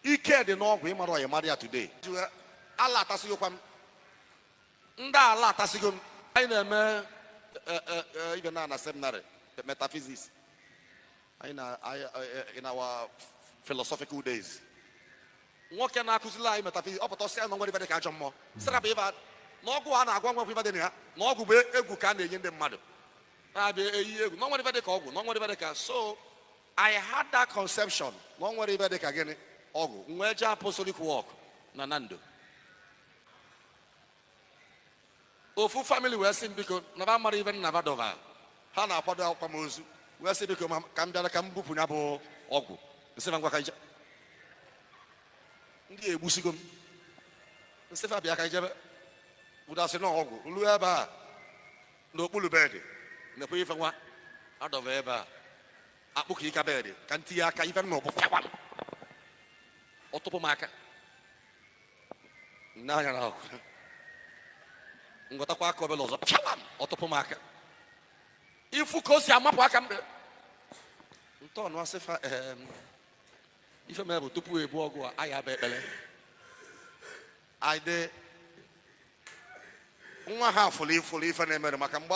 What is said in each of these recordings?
ike dị n'ọgwụ ị marọ ya ị mara ya today ala atasịgokwa m ndị ala atasịgo m anyị na-eme e, e, e, ive na na seminary metaphysics anyị na in our philosophical days nwoke na-akụzili anyị metaphysics ọ pụta ọ sị na o nwerọ ive dị ka ajọ mmụọ sị rapụ ive na ọgwụ a na-agwọ nwerọ ive dị na ya na ọgwụ bụ egwu ka a na-enye ndị mmadụ na-abịa eyi egwu na o nwerọ ive dị ka ọgwụ na o nwerọ ive dị ka so I had that conception na o nwerọ ive dị ka gịnị ọgwụ m wee jee apostolic work na Nando ofu family wee sị m biko na va mara ive nna va dova ha na-akwado akwamozu wee sị biko ka m bịara ka m bupụ ya bụ ọgwụ m sị va ngwa ka anyị je ndị egbusigo m m sị fa bịa ka anyị je ebe unu sị na ọgwụ ruo ebe a n'okpuru bed nekwe ife nwa adọba ebe a akpụ ka ịka bed ka m tinye aka ife m nụ bụ fịawam ọ tụpụ m aka m nee anya na ọgwụ m wetakwa aka obele ọzọ fịawam ọ tụpụ m aka ị fụ ka o si amapụ aka m ntọọnụ asị fa em, ife mere bụ tupu e buo ọgwụ a anyị aba ekpere anyị dee nwa ha afụ fụrụ ife na-emere maka mgbe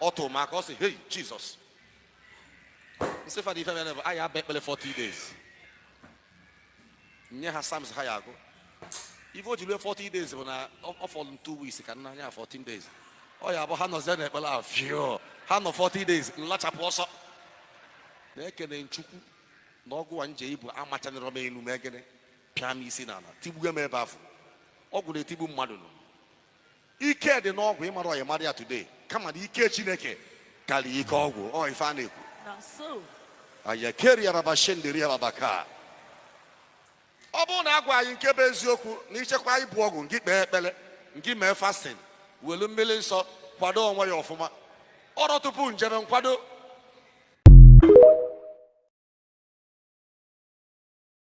ọ tụrụ m aka ọ sị hei Jesus m sị fa na ife mere bụ anyị aba ekpere 14 days nye ha Psalms ha ya agụ ife o ji rue 14 days bụ na ọ fọrọ m 2 weeks ka m naa nya 14 days ọ ya bụ ha nọzie na ekpere ahụ fio ha nọ 14 days m lachapụ ọsọ na-ekene Chukwu na ọgwụ a m je ibu amachanịrọ m enu mee gịnị pịa m isi n'ala tigbuo m ebe afụ ọgwụ na-etigbu mmadụ nọ ike dị n'ọgwụ ị marọ ya mara ya today kama na ike chineke karịa ike ọgwụ ọ ife a na-ekwu Now so, ayakeri araba shenderi araba ka ọ bụrụ na a gwa anyị nke bụ eziokwu na ị jekwa ibu ọgwụ ngị kpee ekpere ngị mee fasting welu mmiri nsọ kwado onwe gị ọfụma ọrụ tupu m jeve m kwado